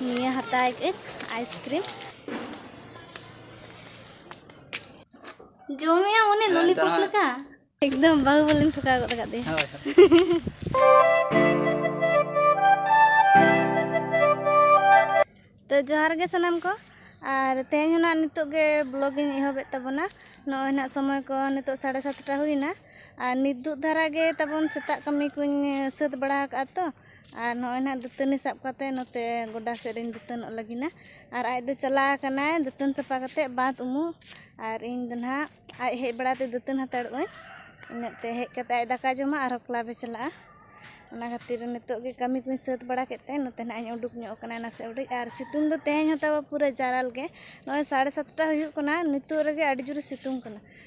ᱱᱤᱭᱟᱹ ᱦᱟᱛᱟᱣ ᱠᱮᱫ ᱟᱭᱤᱥᱠᱨᱤᱢ ᱡᱚᱢᱮᱭᱟ ᱚᱱᱮ ᱞᱚᱞᱤᱯᱚᱯ ᱞᱮᱠᱟ ᱮᱠᱫᱚᱢ ᱵᱟᱹᱦᱩ ᱵᱚᱞᱮᱧ ᱴᱷᱚᱠᱟᱣ ᱜᱚᱫ ᱟᱠᱟᱫ ᱫᱮᱭᱟ ᱛᱚ ᱡᱚᱦᱟᱨ ᱜᱮ ᱥᱟᱱᱟᱢ ᱠᱚ ᱟᱨ ᱛᱮᱦᱮᱧ ᱦᱚᱸ ᱱᱟᱜ ᱱᱤᱛᱚᱜ ᱜᱮ ᱵᱞᱚᱜ ᱤᱧ ᱮᱦᱚᱵᱮᱫ ᱛᱟᱵᱚᱱᱟ ᱱᱚᱜᱼᱚᱭ ᱱᱟᱜ ᱥᱚᱢᱚᱭ ᱠᱚ ᱱᱤᱛᱚᱜ ᱥᱟᱲᱮ ᱥᱟᱛᱴᱟ ᱦᱩᱭᱱᱟ ᱟᱨ ᱱᱤᱛ ᱫᱩᱜ ᱫᱷᱟᱨᱟ ᱜᱮ ᱛᱟᱵᱚᱱ ᱥᱮᱛᱟᱜ ᱠᱟᱹᱢᱤ ᱠᱚᱧ ᱥᱟᱹᱛ ᱵᱟᱲᱟ ᱟᱠᱟᱫᱼᱟ ᱛᱚ ᱟᱨ ᱱᱚᱜᱼᱚᱭ ᱱᱟᱦᱟᱜ ᱫᱟᱹᱛᱟᱹᱱᱤ ᱥᱟᱵ ᱠᱟᱛᱮᱫ ᱱᱚᱛᱮ ᱜᱚᱰᱟ ᱥᱮᱫ ᱨᱤᱧ ᱫᱟᱹᱛᱟᱹᱱᱚᱜ ᱞᱟᱹᱜᱤᱫ ᱱᱟ ᱟᱨ ᱟᱡ ᱫᱚ ᱪᱟᱞᱟᱣ ᱟᱠᱟᱱᱟᱭ ᱫᱟᱹᱛᱟᱹᱱ ᱥᱟᱯᱷᱟ ᱠᱟᱛᱮᱫ ᱵᱟᱸᱫᱽ ᱩᱢᱩᱜ ᱟᱨ ᱤᱧ ᱫᱚ ᱱᱟᱦᱟᱜ ᱟᱡ ᱦᱮᱡ ᱵᱟᱲᱟ ᱛᱮ ᱫᱟᱹᱛᱟᱹᱱ ᱦᱟᱛᱟᱲᱚᱜ ᱟᱹᱧ ᱤᱱᱟᱹᱜ ᱛᱮ ᱦᱮᱡ ᱠᱟᱛᱮᱫ ᱟᱡ ᱫᱟᱠᱟᱭ ᱡᱚᱢᱟ ᱟᱨᱦᱚᱸ ᱠᱞᱟᱵᱽ ᱮ ᱪᱟᱞᱟᱜᱼᱟ ᱚᱱᱟ ᱠᱷᱟᱹᱛᱤᱨ ᱱᱤᱛᱚᱜ ᱜᱮ ᱠᱟᱹᱢᱤ ᱠᱚᱧ ᱥᱟᱹᱛ ᱵᱟᱲᱟ ᱠᱮᱫ ᱛᱮ ᱱᱚᱛᱮ ᱱᱟᱦᱟᱜ ᱤᱧ ᱩᱰᱩᱠ ᱧᱚᱜ ᱟᱠᱟᱱᱟ ᱱᱟᱥᱮ ᱩᱰᱤᱡ ᱟᱨ ᱥᱤᱛᱩᱝ ᱫᱚ ᱛᱮᱦᱮᱧ ᱦᱚᱸ ᱛᱟᱵᱚ ᱯᱩᱨᱟᱹ ᱡᱟᱨᱟᱞ ᱜᱮ ᱱᱚᱜᱼᱚᱭ ᱥᱟᱲᱮ ᱥᱟᱛᱴᱟ ᱦᱩᱭᱩᱜ ᱠᱟᱱᱟ ᱱᱤᱛᱚᱜ ᱨᱮᱜᱮ ᱟᱹᱰᱤ ᱡᱳᱨᱮ ᱥᱤᱛᱩᱝ ᱠᱟᱱᱟ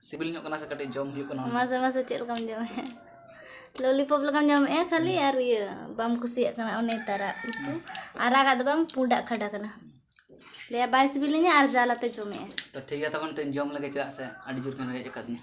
ᱥᱤᱵᱤᱞ ᱧᱚᱜ ᱠᱟᱱᱟ ᱥᱮ ᱠᱟᱹᱴᱤᱡ ᱡᱚᱢ ᱦᱩᱭᱩᱜ ᱠᱟᱱᱟ ᱢᱟᱥᱮ ᱢᱟᱥᱮ ᱪᱮᱫ ᱞᱮᱠᱟᱢ ᱡᱚᱢᱮᱫᱼᱟ ᱞᱚᱞᱤᱯᱚᱯ ᱞᱮᱠᱟᱢ ᱡᱚᱢᱮᱫᱼᱟ ᱠᱷᱟᱹᱞᱤ ᱟᱨ ᱤᱭᱟᱹ ᱵᱟᱢ ᱠᱩᱥᱤᱭᱟᱜ ᱠᱟᱱᱟ ᱚᱱᱮ ᱛᱟᱨᱟᱜ ᱩᱛᱩ ᱟᱨᱟᱜᱟᱜ ᱫᱚ ᱵᱟᱝ ᱯᱩᱸᱰᱟᱜ ᱠᱷᱟᱰᱟ ᱠᱟᱱᱟ ᱞᱟᱹᱭᱟ ᱵᱟᱭ ᱥᱤᱵᱤᱞᱤᱧᱟ ᱟᱨ ᱡᱟᱞᱟᱛᱮ ᱡᱚᱢᱮᱫᱼᱟ ᱛᱚ ᱴᱷᱤᱠ ᱜᱮᱭᱟ ᱛᱚᱠᱷᱚᱱ ᱛᱚᱧ ᱡᱚᱢ ᱞᱮᱜᱮ ᱪᱮᱫᱟᱜ ᱥᱮ ᱟᱹᱰᱤ ᱡᱳᱨ ᱠᱤᱱ ᱨᱮᱡ ᱟᱠᱟᱫᱤᱧᱟ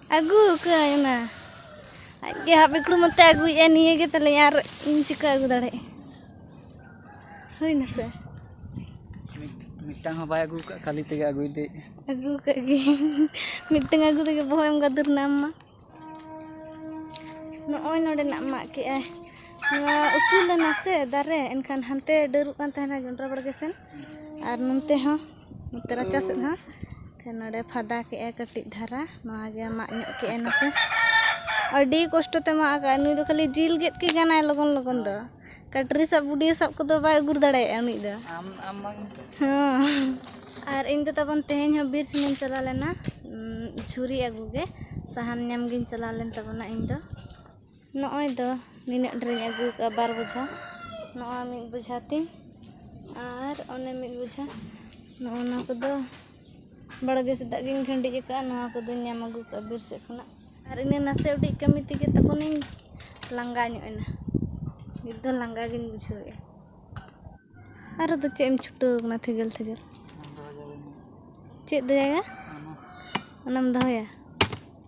ᱟᱹᱜᱩ ᱟᱠᱟᱫᱟᱹᱧ ᱚᱱᱟ ᱟᱡ ᱜᱮ ᱦᱟᱯ ᱮᱠᱲᱩ ᱢᱚᱛᱮ ᱟᱹᱜᱩᱭᱮᱫᱼᱟ ᱱᱤᱭᱟᱹ ᱜᱮ ᱛᱟᱞᱮ ᱟᱨ ᱤᱧ ᱪᱤᱠᱟᱹ ᱟᱹᱜᱩ ᱫᱟᱲᱮᱭᱟᱜᱼᱟ ᱦᱩᱭ ᱱᱟ ᱥᱮ ᱢᱤᱫᱴᱟᱝ ᱦᱚᱸ ᱵᱟᱭ ᱟᱹᱜᱩ ᱟᱠᱟᱫ ᱠᱷᱟᱹᱞᱤ ᱛᱮᱜᱮ ᱟᱹᱜᱩᱭ ᱞᱟᱹᱭᱮᱫ ᱟᱹᱜᱩ ᱟᱠᱟᱫ ᱜᱤᱭᱟᱹᱧ ᱢᱤᱫᱴᱟᱝ ᱟᱹᱜᱩ ᱛᱮᱜᱮ ᱵᱚᱦᱚᱜ ᱮᱢ ᱜᱟᱫᱩᱨ ᱱᱟ ᱟᱢ ᱢᱟ ᱱᱚᱜᱼᱚᱭ ᱱᱚᱰᱮᱱᱟᱜ ᱢᱟᱜ ᱠᱮᱜᱼᱟᱭ ᱱᱚᱣᱟ ᱩᱥᱩᱞ ᱞᱮᱱᱟ ᱥᱮ ᱫᱟᱨᱮ ᱮᱱᱠᱷᱟᱱ ᱦᱟᱱᱛᱮ ᱰᱟᱹᱨᱩᱜ ᱠᱟᱱ ᱛᱟᱦᱮᱱᱟ ᱡᱚᱱᱰᱨᱟ ᱵᱟᱲᱜᱮ ᱥᱮᱱ ᱟᱨ ᱱᱚᱱᱛᱮ ᱦᱚᱸ ᱱᱚᱛᱮ ᱨᱟᱪᱟ ᱥᱮᱫ ᱦᱚᱸ ᱮᱱᱠᱷᱟᱱ ᱱᱚᱰᱮ ᱯᱷᱟᱫᱟ ᱠᱮᱜᱼᱟ ᱠᱟᱹᱴᱤᱡ ᱫᱷᱟᱨᱟ ᱱᱚᱣᱟ ᱜᱮ ᱢᱟᱜ ᱧᱚᱜ ᱠᱮᱜᱼᱟ ᱱᱟᱥᱮ ᱟᱹᱰᱤ ᱠᱚᱥᱴᱚ ᱛᱮ ᱢᱟᱜ ᱟᱠᱟᱫᱼᱟ ᱱᱩᱭ ᱫᱚ ᱠᱷᱟᱹᱞᱤ ᱡᱤᱞ ᱜᱮᱫ ᱜᱮ ᱜᱟᱱᱟᱭ ᱞᱚᱜᱚᱱ ᱞᱚᱜᱚᱱ ᱫᱚ ᱠᱟᱴᱨᱤ ᱥᱟᱵ ᱵᱩᱰᱤ ᱥᱟᱵ ᱠᱚᱫᱚ ᱵᱟᱭ ᱩᱜᱩᱨ ᱫᱟᱲᱮᱭᱟᱜᱼᱟ ᱩᱱᱤ ᱫᱚ ᱦᱮᱸ ᱟᱨ ᱤᱧ ᱫᱚ ᱛᱟᱵᱚᱱ ᱛᱮᱦᱮᱧ ᱦᱚᱸ ᱵᱤᱨ ᱥᱮᱱᱤᱧ ᱪᱟᱞᱟᱣ ᱞᱮᱱᱟ ᱡᱷᱩᱨᱤ ᱟᱹᱜᱩ ᱜᱮ ᱥᱟᱦᱟᱱ ᱧᱟᱢ ᱜᱤᱧ ᱪᱟᱞᱟᱣ ᱞᱮᱱ ᱛᱟᱵᱚᱱᱟ ᱤᱧ ᱫᱚ ᱱᱚᱜᱼᱚᱭ ᱫᱚ ᱱᱤᱱᱟᱹᱜ ᱰᱷᱮᱨᱤᱧ ᱟᱹᱜᱩ ᱠᱟᱜᱼᱟ ᱵᱟᱨ ᱵᱚᱡᱷᱟ ᱱᱚᱣᱟ ᱢᱤᱫ ᱵᱚᱡᱷᱟ ᱛᱤᱧ ᱟᱨ ᱚᱱᱮ ᱢᱤᱫ ᱵᱚᱡᱷᱟ ᱱᱚᱜᱼᱚ ᱱᱟ ᱠᱚᱫᱚ ᱵᱟᱲᱜᱮ ᱥᱮᱫᱟᱜ ᱜᱤᱧ ᱠᱷᱟᱹᱰᱤᱡ ᱠᱟᱜᱼᱟ ᱱᱚᱣᱟ ᱠᱚᱫᱚᱧ ᱧᱟᱢ ᱟᱹᱜᱩ ᱠᱟᱜᱼᱟ ᱵᱤᱨ ᱥᱮᱫ ᱠᱷᱚᱱᱟᱜ ᱟᱨ ᱤᱱᱟᱹ ᱱᱟᱥᱮ ᱩᱰᱤᱡ ᱠᱟᱹᱢᱤ ᱛᱮᱜᱮ ᱛᱟᱵᱚᱱᱤᱧ ᱞᱟᱸᱜᱟ ᱧᱚᱜ ᱮᱱᱟ ᱱᱤᱛ ᱫᱚ ᱞᱟᱸᱜᱟ ᱜᱤᱧ ᱵᱩᱡᱷᱟᱹᱣᱮᱜᱼᱟ ᱟᱨ ᱫᱚ ᱪᱮᱫ ᱮᱢ ᱪᱷᱩᱴᱟᱹᱣ ᱠᱟᱱᱟ ᱛᱷᱮᱜᱮᱞ ᱛᱷᱮᱜᱮᱞ ᱪᱮᱫ ᱫᱚᱭᱟ ᱭᱟ ᱚᱱᱟᱢ ᱫᱚᱦᱚᱭᱟ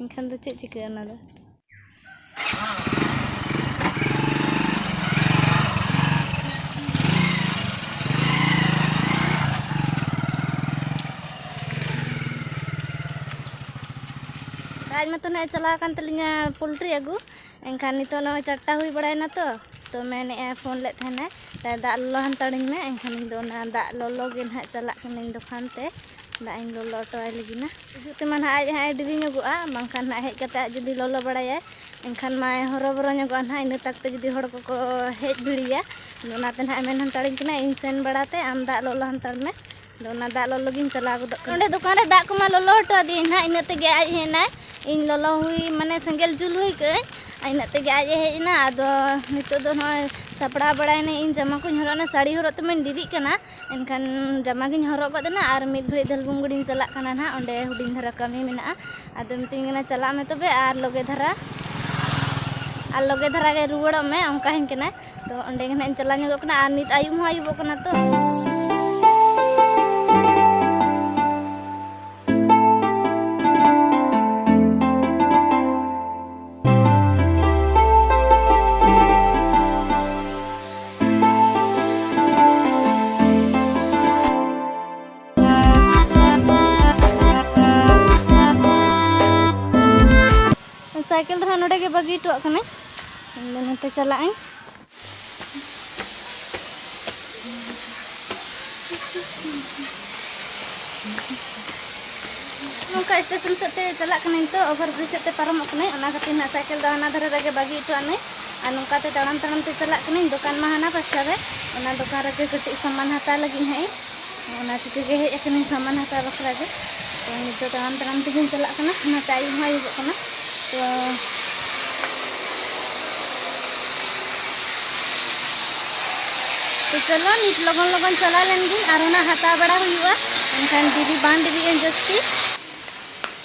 ᱮᱱᱠᱷᱟᱱ ᱫᱚ ᱪᱮᱫ ᱪᱤᱠᱟᱹᱜᱼᱟ ᱚᱱᱟ ᱫᱚ ᱟᱡ ᱢᱟᱛᱚ ᱱᱟᱜ ᱪᱟᱞᱟᱣ ᱟᱠᱟᱱ ᱛᱟᱹᱞᱤᱧᱟ ᱯᱳᱞᱴᱨᱤ ᱟᱹᱜᱩ ᱮᱱᱠᱷᱟᱱ ᱱᱤᱛᱚᱜ ᱱᱚᱜᱼᱚᱭ ᱪᱟᱨᱴᱟ ᱦᱩᱭ ᱵᱟᱲᱟᱭᱮᱱᱟ ᱛᱚ ᱛᱚ ᱢᱮᱱᱮᱫᱼᱟᱭ ᱯᱷᱳᱱ ᱞᱮᱫ ᱛᱟᱦᱮᱱᱟᱭ ᱫᱟᱜ ᱞᱚᱞᱚ ᱦᱟᱱᱛᱟᱲᱤᱧ ᱢᱮ ᱮᱱᱠᱷᱟᱱ ᱤᱧ ᱫᱚ ᱚᱱᱟ ᱫᱟᱜ ᱞᱚᱞᱚ ᱜᱮ ᱱᱟᱜ ᱪᱟᱞᱟᱜ ᱠᱟᱹᱱᱟᱹᱧ ᱫᱚᱠᱟᱱ ᱛᱮ ᱫᱟᱜ ᱤᱧ ᱞᱚᱞᱚ ᱦᱚᱴᱚᱣᱟᱭ ᱞᱟᱹᱜᱤᱫ ᱱᱟ ᱦᱤᱡᱩᱜ ᱛᱮᱢᱟ ᱱᱟᱦᱟᱜ ᱟᱡ ᱦᱟᱸᱜ ᱮ ᱰᱮᱨᱤ ᱧᱚᱜᱚᱜᱼᱟ ᱵᱟᱝᱠᱷᱟᱱ ᱱᱟᱦᱟᱜ ᱦᱮᱡ ᱠᱟᱛᱮ ᱟᱡ ᱡᱩᱫᱤ ᱞᱚᱞᱚ ᱵᱟᱲᱟᱭᱟᱭ ᱮᱱᱠᱷᱟᱱ ᱢᱟᱭ ᱦᱚᱨᱚᱵᱚᱨᱚ ᱧᱚᱜᱚᱜᱼᱟ ᱱᱟᱦᱟᱜ ᱤᱱᱟᱹ ᱛᱟᱠᱛᱮ ᱡᱩᱫᱤ ᱦᱚᱲ ᱠᱚᱠᱚ ᱦᱮᱡ ᱵᱷᱤᱲᱤᱭᱟ ᱟᱫᱚ ᱚᱱᱟᱛᱮ ᱱᱟᱦᱟᱜ ᱮ ᱢᱮᱱ ᱦᱟᱱᱛᱟᱲᱤᱧ ᱠᱟᱱᱟ ᱤᱧ ᱥᱮᱱ ᱵᱟᱲᱟ ᱛᱮ ᱟᱢ ᱫᱟᱜ ᱞᱚᱞᱚ ᱦᱟᱱᱛᱟᱲ ᱢᱮ ᱟᱫᱚ ᱚᱱᱟ ᱫᱟᱜ ᱞᱚᱞᱚ ᱜᱤᱧ ᱪᱟᱞᱟᱣ ᱜᱚᱫᱚᱜ ᱠᱟᱱᱟ ᱚᱸᱰᱮ ᱫᱚᱠᱟᱱ ᱨᱮ ᱫᱟᱜ ᱠᱚᱢᱟ ᱞᱚᱞᱚ ᱦᱚᱴᱚ ᱟᱫᱮᱭᱟᱹᱧ ᱱᱟᱦᱟᱜ ᱤᱱᱟᱹ ᱛᱮᱜᱮ ᱟᱡ ᱦᱮᱡ ᱮᱱᱟᱭ ᱤᱧ ᱞᱚᱞᱚ ᱦᱩᱭ ᱢᱟᱱᱮ ᱥᱮᱸᱜᱮᱞ ᱡᱩᱞ ᱦᱩᱭ ᱠᱟᱹᱜᱼᱟᱹᱧ ᱤᱱᱟᱹ ᱛᱮᱜᱮ ᱟᱡ ᱮ ᱦᱮᱡ ᱮᱱᱟ ᱟᱫᱚ ᱱᱤᱛᱚᱜ ᱫᱚ ᱱᱚᱜᱼᱚᱭ ᱥᱟᱯᱲᱟᱣ ᱵᱟᱲᱟᱭᱮᱱᱟᱹᱧ ᱤᱧ ᱡᱟᱢᱟ ᱠᱚᱧ ᱦᱚᱨᱚᱜ ᱮᱱᱟ ᱥᱟᱹᱲᱤ ᱦᱚᱨᱚᱜ ᱛᱮᱢᱟᱧ ᱰᱮᱨᱤᱜ ᱠᱟᱱᱟ ᱮᱱᱠᱷᱟᱱ ᱡᱟᱢᱟ ᱜᱤᱧ ᱦᱚᱨᱚᱜ ᱜᱚᱫ ᱮᱱᱟ ᱟᱨ ᱢᱤᱫ ᱜᱷᱟᱹᱲᱤᱡ ᱫᱷᱟᱹᱞᱵᱩᱝᱜᱩᱲᱤᱧ ᱪᱟᱞᱟᱜ ᱠᱟᱱᱟ ᱱᱟᱦᱟᱜ ᱚᱸᱰᱮ ᱦᱩᱰᱤᱧ ᱫᱷᱟᱨᱟ ᱠᱟᱹᱢᱤ ᱢᱮᱱᱟᱜᱼᱟ ᱟᱫᱚ ᱢᱤᱛᱟᱹᱧ ᱠᱟᱱᱟ ᱪᱟᱞᱟᱜ ᱢᱮ ᱛᱚᱵᱮ ᱟᱨ ᱞᱚᱜᱮ ᱫᱷᱟᱨᱟ ᱟᱨ ᱞᱚᱜᱮ ᱫᱷᱟᱨᱟ ᱜᱮ ᱨᱩᱣᱟᱹᱲᱚᱜ ᱢᱮ ᱚᱱᱠᱟᱧ ᱠᱟᱱᱟ ᱛᱚ ᱚᱸᱰᱮ ᱜᱮ ᱱᱟᱦᱟᱜ ᱤᱧ ᱪᱟᱞᱟᱣ ᱧᱚᱜᱚᱜ ᱠᱟᱱᱟ ᱟᱨ ᱱᱤᱛ ᱟᱹᱭᱩᱵ ᱦᱚᱸ ᱟᱹᱭᱩᱵᱚᱜ ᱠᱟᱱᱟ ᱛᱚ ᱥᱟᱭᱠᱮᱞ ᱫᱚ ᱱᱚᱰᱮ ᱜᱮ ᱵᱟᱹᱜᱤ ᱦᱚᱴᱚᱣᱟᱜ ᱠᱟᱱᱟᱹᱧ ᱱᱚᱛᱮ ᱪᱟᱞᱟᱜ ᱟᱹᱧ ᱱᱚᱝᱠᱟ ᱥᱴᱮᱥᱚᱱ ᱥᱮᱫ ᱛᱮ ᱪᱟᱞᱟᱜ ᱠᱟᱹᱱᱟᱹᱧ ᱛᱚ ᱚᱵᱷᱟᱨ ᱵᱨᱤᱡᱽ ᱥᱮᱫ ᱛᱮ ᱯᱟᱨᱚᱢᱚᱜ ᱠᱟᱹᱱᱟᱹᱧ ᱚᱱᱟ ᱠᱷᱟᱹᱛᱤᱨ ᱱᱟᱜ ᱥᱟᱭᱠᱮᱞ ᱫᱚ ᱦᱟᱱᱟ ᱫᱷᱟᱨᱮ ᱨᱮᱜᱮ ᱵᱟᱹᱜᱤ ᱦᱚᱴᱚ ᱟᱹᱱᱟᱹᱧ ᱟᱨ ᱱᱚᱝᱠᱟ ᱛᱮ ᱛᱟᱲᱟᱢ ᱛᱟᱲᱟᱢ ᱛᱮ ᱪᱟᱞᱟᱜ ᱠᱟᱹᱱᱟᱹᱧ ᱫᱚᱠᱟᱱ ᱢᱟ ᱦᱟᱱᱟ ᱯᱟᱥᱴᱟ ᱨᱮ ᱚᱱᱟ ᱫᱚᱠᱟᱱ ᱨᱮᱜᱮ ᱠᱟᱹᱴᱤᱡ ᱥᱟᱢᱟᱱ ᱦᱟᱛᱟᱣ ᱞᱟᱹᱜᱤᱫ ᱦᱟᱸᱜ ᱤᱧ ᱚᱱᱟ ᱪᱤᱠᱟᱹ ᱜᱮ ᱦᱮᱡ ᱟᱠᱟᱱᱟᱹᱧ ᱥᱟᱢᱟᱱ ᱦᱟᱛᱟᱣ ᱵᱟᱠᱷᱨᱟ ᱜᱮ ᱛᱚ ᱱᱤᱛᱚᱜ ᱛᱟᱲᱟᱢ ᱛᱟᱲᱟᱢ ᱛᱮᱜᱮᱧ ᱪᱟᱞᱟᱜ ᱠᱟᱱᱟ ᱚᱱᱟ ᱴᱟᱭᱤᱢ ᱦᱚᱸ ᱟᱹᱭᱩᱵᱚᱜ ᱠᱟᱱᱟ ᱛᱚ ᱛᱚ ᱪᱚᱞᱚ ᱱᱤᱛ ᱞᱚᱜᱚᱱ ᱞᱚᱜᱚᱱ ᱪᱟᱞᱟᱣ ᱞᱮᱱ ᱜᱤᱧ ᱟᱨ ᱚᱱᱟ ᱦᱟᱛᱟᱣ ᱵᱟᱲᱟ ᱦᱩᱭᱩᱜᱼᱟ ᱮᱱᱠᱷᱟᱱ ᱰᱮᱨᱤ ᱵᱟᱝ ᱰᱮᱨᱤᱜᱼᱟ ᱡᱟᱹᱥᱛᱤ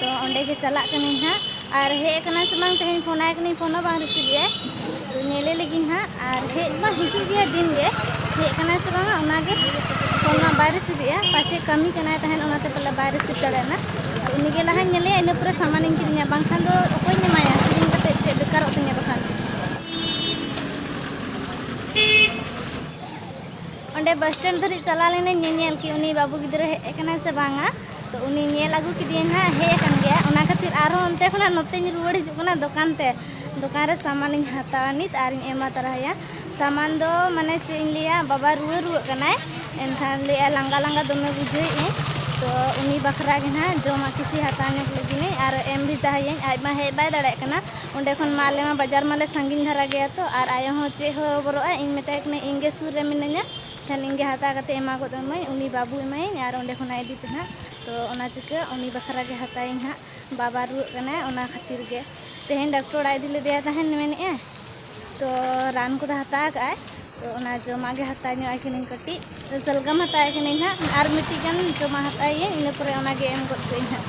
ᱛᱚ ᱚᱸᱰᱮ ᱜᱮ ᱪᱟᱞᱟᱜ ᱠᱟᱹᱱᱟᱹᱧ ᱦᱟᱸᱜ ᱟᱨ ᱦᱮᱡ ᱟᱠᱟᱱᱟ ᱥᱮ ᱵᱟᱝ ᱛᱮᱦᱮᱧ ᱯᱷᱳᱱ ᱟᱭ ᱠᱟᱹᱱᱟᱹᱧ ᱯᱷᱳᱱ ᱦᱚᱸ ᱵᱟᱝ ᱨᱤᱥᱤᱵᱷ ᱮᱫᱟᱭ ᱛᱚ ᱧᱮᱞᱮ ᱞᱟᱹᱜᱤᱫ ᱦᱟᱸᱜ ᱟᱨ ᱦᱮᱡ ᱢᱟ ᱦᱤᱡᱩᱜ ᱜᱮᱭᱟ ᱫᱤᱱ ᱜᱮ ᱦᱮᱡ ᱟᱠᱟᱱᱟ ᱥᱮ ᱵᱟᱝᱟ ᱚᱱᱟ ᱜᱮ ᱯᱷᱳᱱ ᱢᱟ ᱵᱟᱭ ᱨᱤᱥᱤᱵᱷ ᱮᱫᱟ ᱯᱟᱪᱮ ᱠᱟᱹᱢᱤ ᱠᱟᱱᱟᱭ ᱛᱟᱦᱮᱱ ᱚᱱᱟᱛᱮ ᱯᱟᱞᱮ ᱵᱟᱭ ᱨᱤᱥᱤᱵᱷ ᱫᱟᱲᱮᱭᱟᱜᱼᱟ ᱛᱚ ᱩᱱᱤ ᱜᱮ ᱞᱟᱦᱟᱧ ᱧᱮᱞᱮᱭᱟ ᱤᱱᱟᱹ ᱯᱚᱨᱮ ᱥᱟᱢᱟᱱᱤᱧ ᱠᱤᱨᱤᱧᱟ ᱵᱟᱝᱠᱷᱟᱱ ᱫᱚ ᱚᱠᱚᱭᱤᱧ ᱮᱢᱟᱭᱟ ᱠᱤᱨᱤᱧ ᱠᱟᱛᱮᱫ ᱪᱮᱫ ᱵᱮᱠᱟᱨᱚᱜ ᱛᱤᱧᱟ ᱵᱟᱠᱷᱟᱱ ᱚᱸᱰᱮ ᱵᱟᱥ ᱥᱴᱮᱱᱰ ᱫᱷᱟᱹᱨᱤᱡ ᱪᱟᱞᱟᱣ ᱞᱮᱱᱟᱹᱧ ᱧᱮᱧᱮᱞ ᱠᱤ ᱩᱱᱤ ᱵᱟᱹᱵᱩ ᱜᱤᱫᱽᱨᱟᱹ ᱦᱮᱡ ᱟᱠᱟᱱᱟᱭ ᱥᱮ ᱵᱟᱝᱟ ᱛᱚ ᱩᱱᱤ ᱧᱮᱞ ᱟᱹᱜᱩ ᱠᱮᱫᱮᱭᱟᱹᱧ ᱦᱟᱸᱜ ᱦᱮᱡ ᱟᱠᱟᱱ ᱜᱮᱭᱟ ᱚᱱᱟ ᱠᱷᱟᱹᱛᱤᱨ ᱟᱨᱦᱚᱸ ᱚᱱᱛᱮ ᱠᱷᱚᱱᱟᱜ ᱱᱚᱛᱮᱧ ᱨᱩᱣᱟᱹᱲ ᱦᱤᱡᱩᱜ ᱠᱟᱱᱟ ᱫᱚᱠᱟᱱ ᱛᱮ ᱫᱚᱠᱟᱱ ᱨᱮ ᱥᱟᱢᱟᱱᱤᱧ ᱦᱟᱛᱟᱣᱟ ᱱᱤᱛ ᱟᱨᱤᱧ ᱮᱢᱟ ᱛᱟᱨᱟᱭᱟ ᱥᱟᱢᱟᱱ ᱫᱚ ᱢᱟᱱᱮ ᱪᱮᱫ ᱤᱧ ᱞᱟᱹᱭᱟ ᱵᱟᱵᱟ ᱨᱩᱣᱟᱹ ᱨᱩᱣᱟᱹᱜ ᱠᱟᱱᱟᱭ ᱮᱱᱠᱷᱟᱱ ᱞᱟᱹᱭᱟ ᱞᱟᱸᱜᱟ ᱞᱟᱸᱜᱟ ᱫᱚᱢᱮ ᱵᱩᱡᱷᱟᱹᱣᱮᱫᱼᱟᱹᱧ ᱛᱚ ᱩᱱᱤ ᱵᱟᱠᱷᱨᱟ ᱜᱮ ᱦᱟᱸᱜ ᱡᱚᱢᱟᱜ ᱠᱤᱪᱷᱩ ᱦᱟᱛᱟᱣ ᱧᱚᱜᱽ ᱞᱟᱹᱜᱤᱫ ᱟᱨ ᱮᱢ ᱵᱷᱮᱡᱟ ᱟᱭᱟᱹᱧ ᱟᱡ ᱢᱟ ᱦᱮᱡ ᱵᱟᱭ ᱫᱟᱲᱮᱭᱟᱜ ᱠᱟᱱᱟ ᱚᱸᱰᱮ ᱠᱷᱚᱱ ᱢᱟ ᱟᱞᱮ ᱢᱟ ᱵᱟᱡᱟᱨ ᱢᱟᱞᱮ ᱥᱟᱺᱜᱤᱧ ᱫᱷᱟᱨᱟ ᱜᱮᱭᱟ ᱛᱚ ᱟᱨ ᱟᱭᱳ ᱦᱚᱸ ᱪᱮᱫ ᱦᱚᱨᱚᱵᱚᱨᱚᱜᱼᱟ ᱤᱧ ᱢᱮᱛᱟᱭ ᱠᱟᱹᱱᱟᱹᱧ ᱤᱧ ᱜᱮ ᱥᱩᱨ ᱨᱮ ᱢᱤᱱᱟᱹᱧᱟ ᱠᱷᱟᱱ ᱤᱧ ᱜᱮ ᱦᱟᱛᱟᱣ ᱠᱟᱛᱮ ᱮᱢᱟ ᱜᱚᱫ ᱟᱹᱢᱟᱹᱧ ᱩᱱᱤ ᱵᱟᱹᱵᱩ ᱮᱢᱟᱭᱟᱹᱧ ᱟᱨ ᱚᱸᱰᱮ ᱠᱷᱚᱱᱟᱜ ᱤᱫᱤ ᱯᱮ ᱱᱟᱦᱟᱜ ᱛᱚ ᱚᱱᱟ ᱪᱤᱠᱟᱹ ᱩᱱᱤ ᱵᱟᱠᱷᱨᱟ ᱜᱮ ᱦᱟᱛᱟᱣᱟᱹᱧ ᱦᱟᱸᱜ ᱵᱟᱵᱟ ᱨᱩᱣᱟᱹᱜ ᱠᱟᱱᱟᱭ ᱚᱱᱟ ᱠᱷᱟᱹᱛᱤᱨ ᱜᱮ ᱛᱮᱦᱮᱧ ᱰᱟᱠᱴᱚᱨ ᱚᱲᱟᱜ ᱤᱫᱤ ᱞᱮᱫᱮᱭᱟ ᱛᱟᱦᱮᱱ ᱢᱮᱱᱮᱜᱼᱟ ᱛᱚ ᱨᱟᱱ ᱠᱚᱫᱚ ᱦᱟᱛᱟᱣ ᱠᱟᱜᱼᱟᱭ ᱛᱚ ᱚᱱᱟ ᱡᱚᱢᱟᱜ ᱜᱮ ᱦᱟᱛᱟᱣ ᱧᱚᱜ ᱟᱭ ᱠᱟᱹᱱᱟᱹᱧ ᱠᱟᱹᱴᱤᱡ ᱥᱟᱞᱜᱟᱢ ᱦᱟᱛᱟᱣ ᱠᱟᱹᱱᱟᱹᱧ ᱦᱟᱸᱜ ᱟᱨ ᱢᱤᱫᱴᱤᱡ ᱜᱟᱱ ᱡᱚᱢᱟ ᱦᱟᱛᱟᱣᱤᱭᱟᱹᱧ ᱤᱱᱟᱹ ᱯᱚᱨᱮ ᱚᱱᱟᱜᱮ ᱮᱢ ᱜᱚᱫ ᱠᱟᱹᱧ ᱦᱟᱸᱜ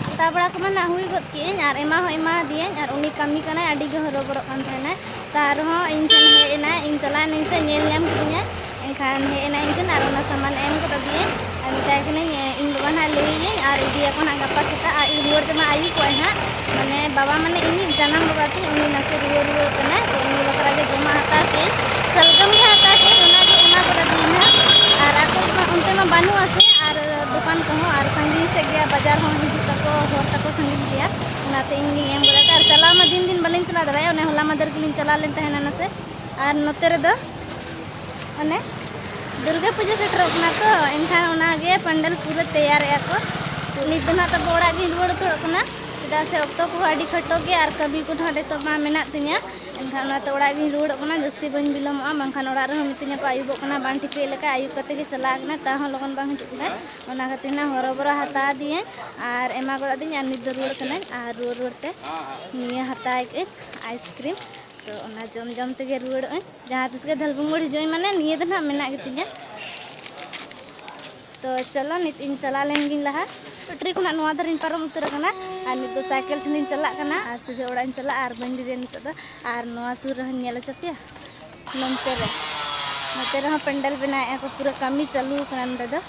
ᱦᱟᱛᱟᱣ ᱵᱟᱲᱟ ᱠᱚᱢᱟ ᱱᱟᱜ ᱦᱩᱭ ᱜᱚᱫ ᱠᱮᱜᱼᱟᱹᱧ ᱟᱨ ᱮᱢᱟ ᱦᱚᱸ ᱮᱢᱟ ᱫᱤᱭᱟᱹᱧ ᱟᱨ ᱩᱱᱤ ᱠᱟᱹᱢᱤ ᱠᱟᱱᱟᱭ ᱟᱹᱰᱤ ᱜᱮ ᱦᱚᱨᱚᱵᱚᱨᱚᱜ ᱠᱟᱱ ᱛᱟᱦᱮᱱᱟᱭ ᱛᱟ ᱟᱨᱦᱚᱸ ᱤᱧ ᱴᱷᱮᱱ ᱦᱮᱡ ᱮᱱᱟᱭ ᱤᱧ ᱪᱟᱞᱟᱣ ᱮᱱᱟᱹᱧ ᱥᱮ ᱧᱮᱞ ᱧᱟᱢ ᱠᱤᱫᱤᱧᱟ ᱮᱱᱠᱷᱟᱱ ᱦᱮᱡ ᱮᱱᱟᱭ ᱤᱧ ᱴᱷᱮᱱ ᱟᱨ ᱚᱱᱟ ᱥᱟᱢᱟᱱ ᱮᱢ ᱜᱚᱫ ᱟᱫᱤᱭᱟᱹᱧ ᱟᱨ ᱢᱮᱛᱟᱭ ᱠᱟᱹᱱᱟᱹᱧ ᱤᱧ ᱵᱟᱵᱟ ᱱᱟᱜ ᱞᱟᱹᱭᱟᱹᱧ ᱟᱨ ᱤᱫᱤᱭᱟᱠᱚ ᱱᱟᱜ ᱜᱟᱯᱟ ᱥᱮᱛᱟᱜ ᱟᱨ ᱤᱧ ᱨᱩᱣᱟᱹᱲ ᱛᱮᱢᱟ ᱟᱹᱭᱩᱵᱚᱜᱼᱟᱭ ᱦᱟᱸᱜ ᱢᱟᱱᱮ ᱵᱟᱵᱟ ᱢᱟᱱᱮ ᱤᱧᱤᱡ ᱡᱟᱱᱟᱢ ᱵᱟᱵᱟ ᱛᱤᱧ ᱩᱱᱤ ᱱᱟᱥᱮ ᱨᱩᱣᱟᱹ ᱨᱩᱣᱟᱹ ᱠᱟᱱᱟᱭ ᱛᱚ ᱩᱱᱤ ᱵᱟᱠᱷᱨᱟ ᱜᱮ ᱡᱚᱢᱟᱜ ᱦᱟᱛᱟᱣ ᱠᱮᱫ ᱥᱟᱞᱜᱟᱢ ᱜᱮ ᱦᱟᱛᱟᱣ ᱠᱮᱫ ᱚᱱᱟ ᱜᱮ ᱮᱢᱟ ᱠᱚᱫᱟ ᱫᱤᱱᱟ ᱟᱨ ᱟᱠᱚ ᱢᱟ ᱚᱱᱛᱮ ᱢᱟ ᱵᱟᱹᱱᱩᱜᱼᱟ ᱥᱮ ᱟᱨ ᱫᱚᱠᱟᱱ ᱠᱚᱦᱚᱸ ᱟᱨ ᱥᱟᱺᱜᱤᱧ ᱥᱮᱫ ᱜᱮᱭᱟ ᱵᱟᱡᱟᱨ ᱦᱚᱸ ᱦᱤᱡᱩᱜ ᱛᱟᱠᱚ ᱦᱚᱨ ᱛᱟᱠᱚ ᱥᱟᱺᱜᱤᱧ ᱜᱮᱭᱟ ᱚᱱᱟᱛᱮ ᱤᱧ ᱜᱤᱧ ᱮᱢ ᱠᱟᱫᱟ ᱟᱨ ᱪᱟᱞᱟᱣ ᱢᱟ ᱫᱤᱱ ᱫᱤᱱ ᱵᱟᱹᱞᱤᱧ ᱪᱟᱞᱟᱣ ᱫᱟᱲᱮᱭᱟᱜᱼᱟ ᱚᱱᱮ ᱦᱚᱞᱟ ᱢᱟᱫᱷᱮᱨ ᱜᱮᱞᱤᱧ ᱪᱟᱞᱟᱣ ᱞᱮᱱ ᱛᱟᱦᱮᱱᱟ ᱱᱟᱥᱮ ᱟᱨ ᱱᱚᱛᱮ ᱨᱮᱫᱚ ᱚᱱᱮ ᱫᱩᱨᱜᱟᱹ ᱯᱩᱡᱟᱹ ᱥᱮᱴᱮᱨᱚᱜ ᱠᱟᱱᱟ ᱛᱚ ᱮᱱᱠᱷᱟᱱ ᱚᱱᱟᱜᱮ ᱯᱟᱱᱰᱮᱞ ᱯᱩᱨᱟᱹ ᱛᱮᱭᱟᱨᱮᱜᱼᱟ ᱠᱚ ᱱᱤᱛ ᱫᱚ ᱱᱟᱜ ᱛᱟᱵᱚ ᱚᱲᱟᱜ ᱜᱤᱧ ᱨᱩᱣᱟᱹᱲ ᱩᱛᱟᱹᱨᱚᱜ ᱠᱟᱱᱟ ᱪᱮᱫᱟᱜ ᱥᱮ ᱚᱠᱛᱚ ᱠᱚᱦᱚᱸ ᱟᱹᱰᱤ ᱠᱷᱟᱴᱚ ᱜᱮᱭᱟ ᱟᱨ ᱠᱟᱹᱢᱤ ᱠᱚ ᱱᱟᱜ ᱱᱤᱛᱚᱜ ᱢᱟ ᱢᱮᱱᱟᱜ ᱛᱤᱧᱟ ᱮᱱᱠᱷᱟᱱ ᱚᱱᱟᱛᱮ ᱚᱲᱟᱜ ᱜᱤᱧ ᱨᱩᱣᱟᱹᱲᱚᱜ ᱠᱟᱱᱟ ᱡᱟᱹᱥᱛᱤ ᱵᱟᱹᱧ ᱵᱤᱞᱚᱢᱚᱜᱼᱟ ᱵᱟᱝᱠᱷᱟᱱ ᱚᱲᱟᱜ ᱨᱮᱦᱚᱸ ᱢᱤᱛᱟᱹᱧᱟ ᱠᱚ ᱟᱹᱭᱩᱵᱚᱜ ᱠᱟᱱᱟ ᱵᱟᱝ ᱴᱷᱤᱠᱟᱹᱭ ᱞᱮᱠᱟ ᱟᱹᱭᱩᱵ ᱠᱟᱛᱮ ᱜᱮ ᱪᱟᱞᱟᱜ ᱠᱟᱱᱟ ᱛᱟᱣ ᱦᱚᱸ ᱞᱚᱜᱚᱱ ᱵᱟᱝ ᱦᱤᱡᱩᱜ ᱠᱟᱱᱟ ᱚᱱᱟ ᱠᱷᱟᱹᱛᱤᱨ ᱱᱟᱜ ᱦᱚᱨᱚᱵᱚᱨᱚ ᱦᱟᱛᱟᱣ ᱟᱫᱤᱧᱟᱹᱧ ᱟᱨ ᱮᱢᱟ ᱜᱚᱫ ᱟᱫᱤᱧ ᱟᱨ ᱱᱤᱛ ᱫᱚ ᱨᱩᱣᱟᱹᱲ ᱠᱟᱹᱱᱟᱹᱧ ᱟᱨ ᱨᱩᱣᱟᱹᱲ ᱨᱩᱣᱟᱹᱲ ᱛᱮ ᱱᱤᱭᱟᱹ ᱦᱟᱛᱟᱣ ᱠᱮᱜᱼᱟᱹᱧ ᱟᱭᱤᱥᱠᱨᱤᱢ ᱛᱚ ᱚᱱᱟ ᱡᱚᱢ ᱡᱚᱢ ᱛᱮᱜᱮ ᱨᱩᱣᱟᱹᱲᱚᱜᱼᱟᱹᱧ ᱡᱟᱦᱟᱸ ᱛᱤᱥ ᱜᱮ ᱫᱷᱟᱞᱵᱩᱝᱜᱚᱲ ᱦᱤᱡᱩᱜ ᱤᱧ ᱢᱟᱱᱮ ᱱᱤᱭᱟᱹ ᱫᱚ ᱱᱟᱜ ᱢᱮᱱᱟᱜ ᱜᱮᱛᱤᱧᱟ ᱛᱚ ᱪᱚᱞᱚ ᱱᱤᱛ ᱤᱧ ᱪᱟᱞᱟᱣ ᱞᱮᱱ ᱜᱤᱧ ᱞᱟᱦᱟ ᱯᱮᱴᱨᱤ ᱠᱷᱚᱱᱟᱜ ᱱᱚᱣᱟ ᱫᱷᱟᱨᱮᱧ ᱯᱟᱨᱚᱢ ᱩᱛᱟᱹᱨ ᱟᱠᱟᱱᱟ ᱟᱨ ᱱᱤᱛ ᱫᱚ ᱥᱟᱭᱠᱮᱞ ᱴᱷᱮᱱᱤᱧ ᱪᱟᱞᱟᱜ ᱠᱟᱱᱟ ᱟᱨ ᱥᱤᱫᱷᱟᱹ ᱚᱲᱟᱜ ᱤᱧ ᱪᱟᱞᱟᱜᱼᱟ ᱟᱨ ᱵᱟᱹᱧ ᱰᱮᱨᱤᱭᱟ ᱱᱤᱛᱚᱜ ᱫᱚ ᱟᱨ ᱱᱚᱣᱟ ᱥᱩᱨ ᱨᱮᱦᱚᱸᱧ ᱧᱮᱞ ᱦᱚᱪᱚ ᱯᱮᱭᱟ ᱱᱚᱱᱛᱮ ᱨᱮ ᱱᱚᱛᱮ ᱨᱮᱦᱚᱸ ᱯᱮᱱᱰᱮᱞ ᱵᱮᱱᱟᱣᱮᱫᱼᱟ ᱠᱚ ᱯᱩᱨᱟᱹ ᱠᱟᱹᱢᱤ ᱪᱟᱹᱞᱩ ᱟᱠᱟᱱᱟ ᱱᱚᱸᱰᱮ ᱫᱚ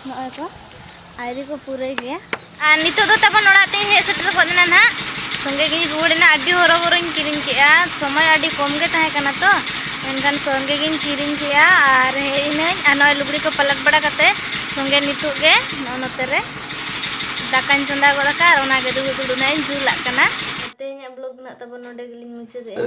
ᱱᱚᱜᱼᱚᱭ ᱠᱚ ᱟᱭᱨᱤ ᱠᱚ ᱯᱩᱨᱟᱹᱭ ᱜᱮᱭᱟ ᱟᱨ ᱱᱤᱛᱚᱜ ᱫᱚ ᱛᱟᱵᱚᱱ ᱚᱲᱟᱜ ᱛᱮᱧ ᱦᱮᱡ ᱥᱮᱴᱮᱨ ᱜᱚᱫ ᱮᱱᱟ ᱱᱟᱦᱟᱜ ᱥᱚᱸᱜᱮ ᱜᱤᱧ ᱨᱩᱣᱟᱹᱲ ᱮᱱᱟ ᱟᱹᱰᱤ ᱦᱚᱨᱚ ᱵᱚᱨᱚᱧ ᱠᱤᱨᱤᱧ ᱠᱮᱜᱼᱟ ᱥᱚᱢᱚᱭ ᱟᱹᱰᱤ ᱠᱚᱢ ᱜᱮ ᱛᱟᱦᱮᱸ ᱠᱟᱱᱟ ᱛᱚ ᱢᱮᱱᱠᱷᱟᱱ ᱥᱚᱸᱜᱮ ᱜᱤᱧ ᱠᱤᱨᱤᱧ ᱠᱮᱜᱼᱟ ᱟᱨ ᱦᱮᱡ ᱤᱱᱟᱹᱧ ᱟᱨ ᱱᱚᱜᱼᱚᱭ ᱞᱩᱜᱽᱲᱤ ᱠᱚ ᱯᱟᱞᱟᱴ ᱵᱟᱲᱟ ᱠᱟᱛᱮ ᱥᱚᱸᱜᱮ ᱱᱤᱛᱚᱜ ᱜᱮ ᱱᱚᱜᱼᱚ ᱱᱚᱛᱮ ᱨᱮ ᱫᱟᱠᱟᱧ ᱪᱚᱸᱫᱟ ᱜᱚᱫ ᱟᱠᱟᱫ ᱟᱨ ᱚᱱᱟᱜᱮ ᱫᱩᱲᱩᱵ ᱫᱩᱲᱩᱵ ᱱᱟᱜ ᱤᱧ ᱡᱩᱞᱟᱜ ᱠᱟᱱᱟ ᱛᱮᱦᱮᱧᱟᱜ ᱵᱞᱚᱜᱽ ᱱᱟᱜ ᱛᱟᱵᱚᱱ ᱱᱚᱰᱮ ᱜᱮᱞᱤᱧ ᱢᱩᱪᱟᱹᱫᱮᱜᱼᱟ